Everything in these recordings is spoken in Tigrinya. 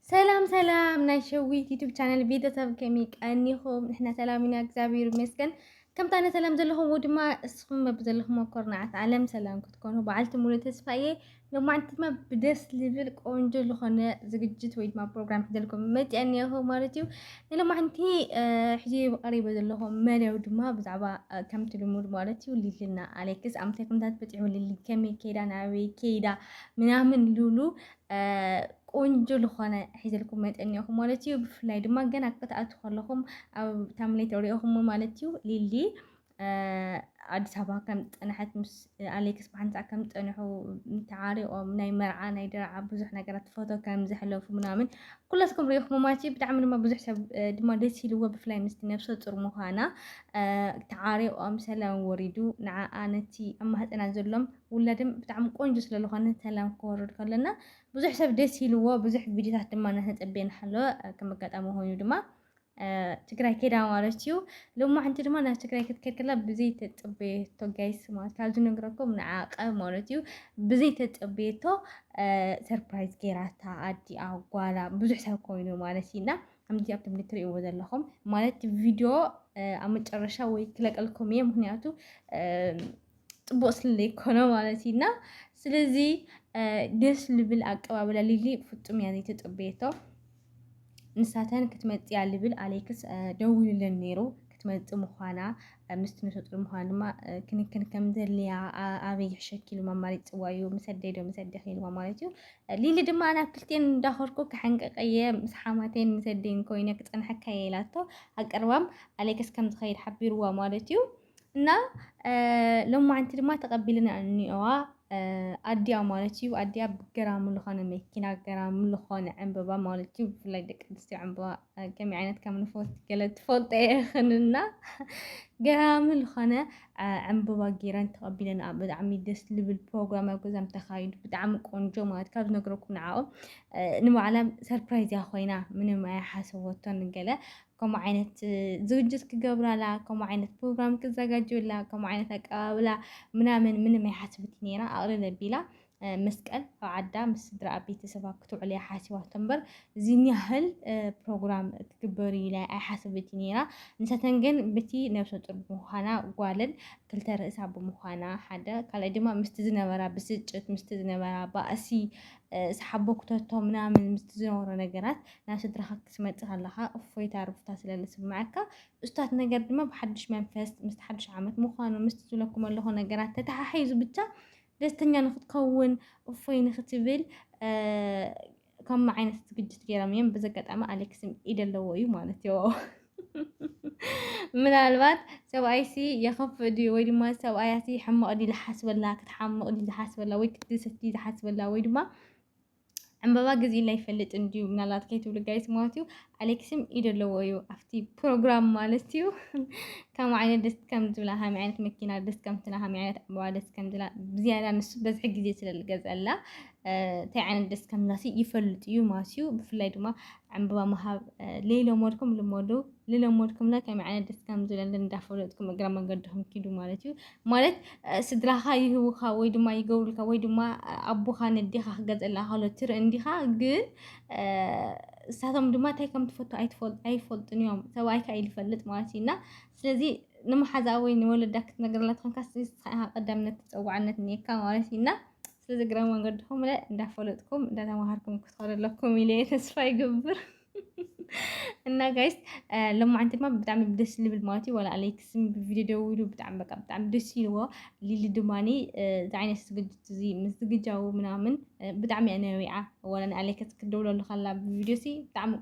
ሰላም ሰላም ናይ ሸዊት ዩቱብ ቻነል ቤተሰብ ከመይ ቀኒኹም? ንሕና ሰላም ኢና እግዚኣብሔር ይመስገን። ከምታ ኣነ ሰላም ዘለኹም ድማ እስኹም በብዘለኹም ኮርናዓት ዓለም ሰላም ክትኮኑ በዓልቲ ሙሉ ተስፋ እየ። ሎማዕንቲ ድማ ብደስ ልብል ቆንጆ ዝኾነ ዝግጅት ወይ ድማ ፕሮግራም ሒዘልኩም መፅአ እኒአኹ ማለት እዩ። ንሎማዕንቲ ሕዚ ቀሪበ ዘለኹ መደብ ድማ ብዛዕባ ከምቲ ልሙድ ማለት እዩ ልልና ኣሌክስ ኣብ ምንታይ ኩነታት በፂሑ ልሊ ከመይ ከይዳ ናበይ ከይዳ ምናምን ሉሉ ቆንጆ ዝኾነ ሒዘልኩም መጠን እኒኦኹም ማለት እዩ። ብፍላይ ድማ ገና ክትኣቱ ከለኹም ኣብ ታምሌት ሪኦኹም ማለት እዩ። ሊሊ ኣዲስ ኣበባ ከም ዝፀንሐት ምስ ኣሌክስ ብሓንሳ ከም ዝፀንሑ ተዓሪቆም ናይ መርዓ ናይ ደርዓ ብዙሕ ነገራት ፎቶ ከም ዘሕለፉ ምናምን ኩላትኩም ሪኢኹም ማለት እዩ። ብጣዕሚ ድማ ብዙሕ ሰብ ድማ ደስ ኢልዎ ብፍላይ ምስቲ ነብሰ ፁር ምዃና ተዓሪቆም ሰላም ወሪዱ ንዓኣ ነቲ ኣብ ማህፀና ዘሎም ውላድም ብጣዕሚ ቆንጆ ስለ ዝኾነ ሰላም ክወርድ ከሎና ብዙሕ ሰብ ደስ ኢልዎ ብዙሕ ቪድዮታት ድማ እናተፀበየ ንሃሎ ከም ኣጋጣሚ ኮይኑ ድማ ትግራይ ከዳ ማለት እዩ ሎማዕንቲ ድማ ናብ ትግራይ ክትከድ ከላ ብዘይ ተፀበየቶ ጋይስ ማለት ካብዚ ነግረኩም ንዓቀ ማለት እዩ ብዘይ ተፀበየቶ ሰርፕራይዝ ጌራታ ኣዲኣ ጓላ ብዙሕ ሰብ ኮይኑ ማለት እዩና ከምዚ ኣብቶም እትርእይዎ ዘለኹም ማለት ቪድዮ ኣብ መጨረሻ ወይ ክለቀልኩም እየ ምክንያቱ ፅቡቅ ስለዘይኮነ ማለት እዩ እና ስለዚ ደስ ልብል ኣቀባብላ ሊሊ ፍፁም እያ ዘይተፀበየቶ ንሳተን ክትመፅያ ልብል ኣሌክስ ደዊሉለን ነይሩ ክትመፅእ ምዃና ምስቲ ነሰጡር ምዃን ድማ ክንክን ከም ዘድልያ ኣበይ ይሕሸኪ ኢሉ ማማሪት ፅዋዩ ምስ ኣደይ ዶ ምስ ኣዴኺ ኢልዋ ማለት እዩ ሊሊ ድማ ናብ ክልቴን እንዳኸርኩ ክሓንቀቀየ ምስ ሓማቴን ምስ ኣደይን ኮይነ ክፀንሐካ እየ ኢላቶ ኣቀርባም ኣሌክስ ከም ዝኸይድ ሓቢርዋ ማለት እዩ እና ሎማዓንቲ ድማ ተቐቢልና እኒኦዋ ኣዲያ ማለት እዩ ኣዲያ ገራሚ ዝኾነ መኪና ገራሚ ዝኾነ ዕምበባ ማለት እዩ ብፍላይ ደቂ ኣንስትዮ ዕምበባ ከመይ ዓይነት ከም ንፈት ገለ ትፈልጦ ይኽንና ገራሚ ዝኾነ ዕምበባ ጌረን ተቐቢለን ብጣዕሚ ደስ ልብል ፕሮግራም ኣብ ገዛም ተኻይዱ ብጣዕሚ ቆንጆ ማለት ካብ ዝነግረኩም ንዓኦም ንባዕላም ሰርፕራይዝ እያ ኮይና ምንም ኣይሓሰቦቶን ገለ ከምኡ ዓይነት ዝግጅት ክገብራላ፣ ከምኡ ዓይነት ፕሮግራም ክዘጋጅዩላ፣ ከምኡ ዓይነት ኣቀባብላ ምናምን ምንም ኣይሓስብት ነይራ። ኣቕልል ኣቢላ መስቀል ኣብ ዓዳ ምስ ስድራኣ ቤተሰባ ክትውዕል እያ ሓሲባቶ እምበር እዚን ያህል ፕሮግራም ክትግበር እዩ ላይ ኣይሓስብት ነይራ ንሰተን ግን ብቲ ነብሰ ጡር ብምዃና ጓልን ክልተ ርእሳ ብምዃና ሓደ ካልኣይ ድማ ምስቲ ዝነበራ ብስጭት ምስቲ ዝነበራ ባእሲ ሰሓቦ ክተቶ ምናምን ምስቲ ዝነበሮ ነገራት ናብ ስድራኻ ክትመጽእ ከለኻ እፎይታ ርፍታ ስለ ዝስምዓካ እስታት ነገር ድማ ብሓድሽ መንፈስ ምስቲ ሓድሽ ዓመት ምዃኑ ምስቲ ዝብለኩም ኣለኹ ነገራት ተተሓሒዙ ብቻ ደስተኛ ንክትከውን እፎይ ንክትብል ከምኡ ዓይነት ዝግጅት ገይሮም እዮም። በዚ ኣጋጣሚ ኣሌክስም ኢድ ኣለዎ እዩ ማለት እዩ። ምናልባት ሰብኣይሲ የኸፍእ ድዩ ወይ ድማ ሰብኣያሲ ሕማቕ ድዩ ዝሓስበላ ክትሓምቕ ድዩ ዝሓስበላ ወይ ክትድሰት ድዩ ዝሓስበላ ወይ ድማ ዕምበባ ግዜላ ይፈልጥ እንድዩ ምናልባት ከይትብሉ ጋይስ ማለት እዩ ኣሌክስም ኢደ ኣለዎ እዩ ኣብቲ ፕሮግራም ማለት እዩ ከም ዓይነት ደስ ከም ዝብላ ሃሚ ዓይነት መኪና ደስ ከምትና ሃሚ ዓይነት ዕምበባ ደስ ከም ዝብላ ብዝያዳ ንሱ በዝሒ ግዜ ስለዝገዝአላ እንታይ ዓይነት ደስ ከምዝብላሲ ይፈልጥ እዩ ማለት እዩ ብፍላይ ድማ ዕምበባ ምሃብ ለይለመድኩም ልመዱ ልለመድኩምና ከመይ ዓይነት ደስ ከም ዝብለለን እንዳፈለጥኩም እግረ መንገድኩም ኪዱ ማለት እዩ ማለት ስድራኻ ይህውኻ ወይ ድማ ይገብሩልካ ወይ ድማ ኣቦኻ ነዴኻ ክገዝእላ ከሎ ትርኢ እንዲኻ ግን እሳቶም ድማ እንታይ ከም ትፈቱ ኣይፈልጡን እዮም ሰብኣይካ እዩ ዝፈልጥ ማለት እዩ እና ስለዚ ንመሓዛ ወይ ንወለዳ ክትነግረላ ትኾንካ ስኻ ኢኻ ቀዳምነት ተፀዋዕነት እኒካ ማለት እዩ እና ስለዚ እግረ መንገድኹም ለ እንዳፈለጥኩም እንዳተማሃርኩም ክትኸዱ ኣለኩም ኢለ ተስፋ ይገብር እና ጋይስ ለማዓንቲ ድማ ብጣዕሚ ደስ ልብል ማለት እዩ ዋላ ኣሌክስ ብቪድዮ ደው ኢሉ ብጣዕሚ በቃ ብጣዕሚ ደስ ኢልዎ ሊሊ ድማኒ እዚ ዓይነት ዝግጅት እዚ ምስ ዝግጃው ምናምን ብጣዕሚ እያ ነቢዓ ዋላ ንኣሌክስ ክደውለሉ ከላ ብቪድዮ ሲ ብጣዕሚ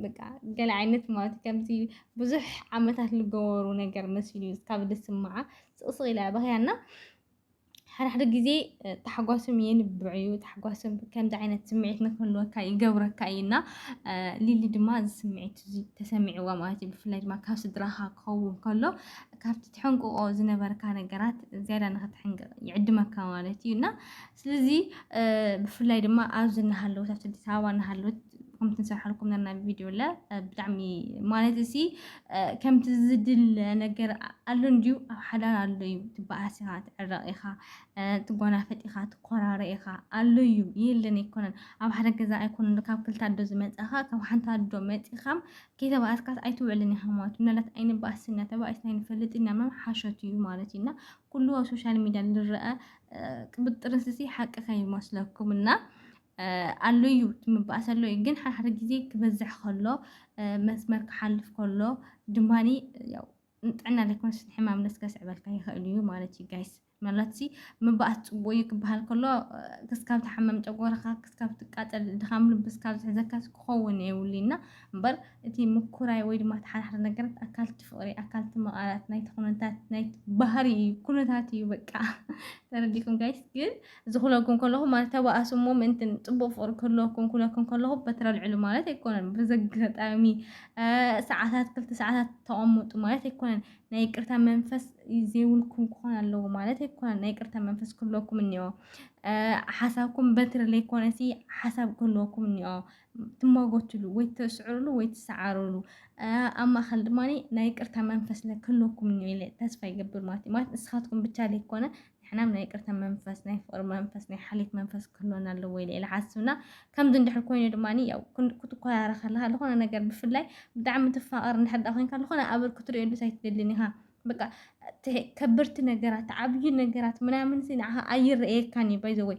በቃ ገለ ዓይነት ማለት እዩ ከምዚ ብዙሕ ዓመታት ዝገበሩ ነገር መሲሉ እዩ ካብ ደስ ስምዓ ስቕስቕ ኢላ በኽያና ሓድሓደ ግዜ ታሕጓሶም የንብዕ እዩ ታሕጓሶም ከምዚ ዓይነት ስምዒት ንክህልወካ ይገብረካ እዩ እና ሊሊ ድማ እዚ ስምዒት እዚ ተሰሚዕዋ ማለት እዩ ብፍላይ ድማ ካብ ስድራኻ ክኸውን ከሎ ካብቲ ትሕንቅቆ ዝነበርካ ነገራት ዝያዳ ንክትሕንቅቕ ይዕድመካ ማለት እዩ እና ስለዚ ብፍላይ ድማ ኣብዚ እናሃለወት ኣብቲ ኣዲስ ኣበባ እናሃለወት ከምቲ ንሰርሓልኩም ነና ቪድዮ ለ ብጣዕሚ ማለት እሲ ከምቲ ዝድለ ነገር ኣሎ እንድዩ ኣብ ሓዳር ኣሎ እዩ ትበኣስ ኢኻ ትዕረቕ ኢኻ ትጓናፈጥ ኢኻ ትኮራረ ኢኻ ኣሎ እዩ የለን ኣይኮነን ኣብ ሓደ ገዛ ኣይኮነን ካብ ክልተ ኣዶ ዝመፀኻ ካብ ሓንቲ ኣዶ መፂኻ ከይተበኣስካስ ኣይትውዕልን ኢኻ ማለት እዩ ምናልባት ኣይንበኣስ ኢና ተባኢስና ይንፈልጥ ኢና ምናምን ሓሸት እዩ ማለት እዩ እና ኩሉ ኣብ ሶሻል ሚዲያ ዝረአ ቅብጥርንስሲ ሓቂ ከይመስለኩም እና ኣሎ እዩ እቲ ምባኣስ ኣሎ እዩ ግን ሓድሓደ ግዜ ክበዝሕ ከሎ መስመር ክሓልፍ ከሎ ድማ ያው ንጥዕና ዘይኮነስ ንሕማም ነስ ከስዕበልካ ይኽእል እዩ ማለት እዩ ጋይስ ምናልባት ሲ ምባኣስ ፅቡቅ እዩ ክበሃል ከሎ ክስካብ ትሓመም ጨጎራኻ ክስካብ ትቃፀል ድኻም ልቢ ስካብ ዝሕዘካ ክኸውን የብሉ እና እምበር እቲ ምኩራይ ወይ ድማ ተሓዳሕሪ ነገራት ኣካልቲ ፍቅሪ ኣካልቲ መቃላት ናይቲ ኩነታት ናይ ባህሪ እዩ ኩነታት እዩ በቃ ተረዲኩም ጋይስ ግን ዝኹነልኩም ከለኹ ማለት ተባኣሱ እሞ ምእንቲ ጽቡቕ ፍቕሪ ክህልወኩም ክብለኩም ከለኹ በትሪ ኣልዕሉ ማለት ኣይኮነን። ብዘጋጣሚ ሰዓታት ክልተ ሰዓታት ተቐምጡ ማለት ኣይኮነን። ናይ ይቅርታ መንፈስ ዘይብልኩም ክኾን ኣለዎ ማለት ኣይኮነን። ናይ ይቅርታ መንፈስ ክህልወኩም እኒኦ። ሓሳብኩም በትሪ ዘይኮነሲ ሓሳብ ክህልወኩም እኒኦ። ትሟጎትሉ ወይ ትስዕርሉ ወይ ትሰዓርሉ ኣብ ማእኸል ድማ ናይ ይቅርታ መንፈስ ክህልወኩም እኒኦ ኢለ ተስፋ ይገብር ማለት እዩ። ማለት ንስኻትኩም ብቻ ዘይኮነ ንሕና ናይ ይቅርታ መንፈስ ናይ ፍቅሪ መንፈስ ናይ ሓልየት መንፈስ ክህልወና ኣለዎ ኢለ ኢለ ሓስብና ከምዚ እንድሕር ኮይኑ ድማ ያው ክትኮራረ ከለካ ዝኾነ ነገር ብፍላይ ብጣዕሚ ትፋቀር እንድሕር ዳ ኮንካ ዝኾነ ኣበር ክትሪኦሉስ ኣይትደልን ኢኻ በቃ ከበድቲ ነገራት ዓብዩ ነገራት ምናምን ንዓኻ ኣይረኣየካን እዩ ባይዘወይ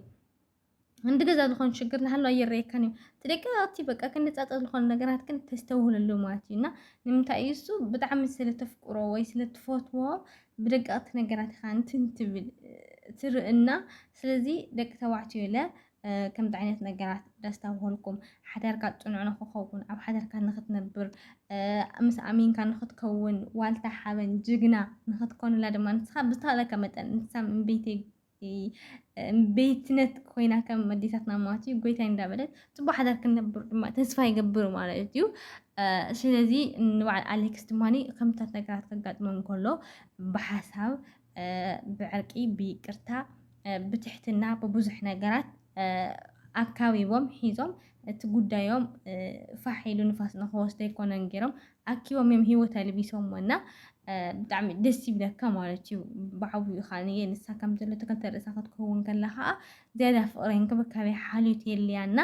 እንዲ ገዛ ዝኾን ሽግር ናሃሎ ኣይረየካን እዩ ተደጋጋቲ በቃ ክንጻጸ ዝኾኑ ነገራት ግን ተስተውህለሉ ማለት እዩ እና ንምንታይ እዩ እሱ ብጣዕሚ ስለተፍቅሮ ወይ ስለትፈትዎ ብደጋቅቲ ነገራት ኢኻ እንትን ትብል ትርእና ስለዚ ደቂ ተባዕትዮ ኢለ ከምዚ ዓይነት ነገራት ደስታውሃልኩም ሓዳርካ ፅኑዕ ንክኸውን ኣብ ሓዳርካ ንክትነብር ምስ ኣሚንካ ንክትከውን ዋልታ ሓበን ጅግና ንክትኮንላ ድማ ንስኻ ብዝተኻለካ መጠን ንሳ እምበይተይ ቤትነት ኮይና ከም ኣዴታትና ማለት እዩ ጎይታይ እንዳበለት ፅቡቅ ሓዳር ክንነብር ድማ ተስፋ ይገብር ማለት እዩ ስለዚ ንበዓል ኣሌክስ ድማ ከምታት ነገራት ከጋጥሞም ከሎ ብሓሳብ ብዕርቂ ብይቅርታ ብትሕትና ብብዙሕ ነገራት ኣካቢቦም ሒዞም እቲ ጉዳዮም ፋሕ ኢሉ ንፋስ ንክወስዶ ኣይኮነን ገይሮም ኣኪቦም እዮም ሂወት ኣልቢሶሞ እና ብጣዕሚ ደስ ይብለካ ማለት እዩ ብዓብኡ ኢኻ ንየ ንሳ ከም ዘሎ ተከልተ ርእሳ ክትከውን ከላ ከዓ ዝያዳ ፍቅሪ እንክብካቤ ሓልዮት የልያ እና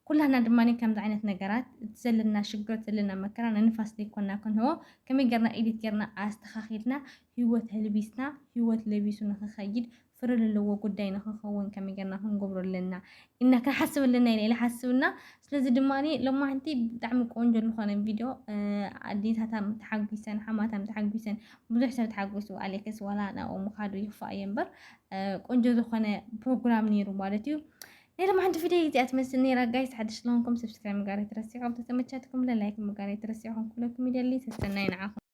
ኩላና ድማ ከምዚ ዓይነት ነገራት እቲ ዘለና ሽግር ዘለና መከራ ንንፋስ ዘይኮና ክንህቦ ከመይ ጌርና ኢዲት ጌርና ኣስተኻኺልና ህይወት ህልቢስና ህይወት ለቢሱ ንክኸይድ ፍረ ለለዎ ጉዳይ ንክኸውን ከመይ ጌርና ክንገብሮ ኣለና ኢልና ክንሓስብ ኣለና ኢለ ኢለ ሓስብ እና ስለዚ ድማ ሎማዕንቲ ብጣዕሚ ቆንጆ ዝኾነ ቪድዮ ኣዴታታም ተሓጒሰን ሓማታም ተሓጒሰን ብዙሕ ሰብ ተሓጒሱ ኣሌክስ ዋላ ናብኡ ምኻዱ ይኽፋእ እየ እምበር ቆንጆ ዝኾነ ፕሮግራም ነይሩ ማለት እዩ ናይ ሎማዕንቲ ቪድዮ እዚኣ ትመስል ነይራ ጋይስ ሓድሽ ስለሆንኩም ሰብስክራይብ ምጋር ኣይትረስዑ ተተመቻትኩም ለላይክ ምጋር ኣይትረስዑ ክንኩለኩም ይደሊ ተስተናይ ንዓኹም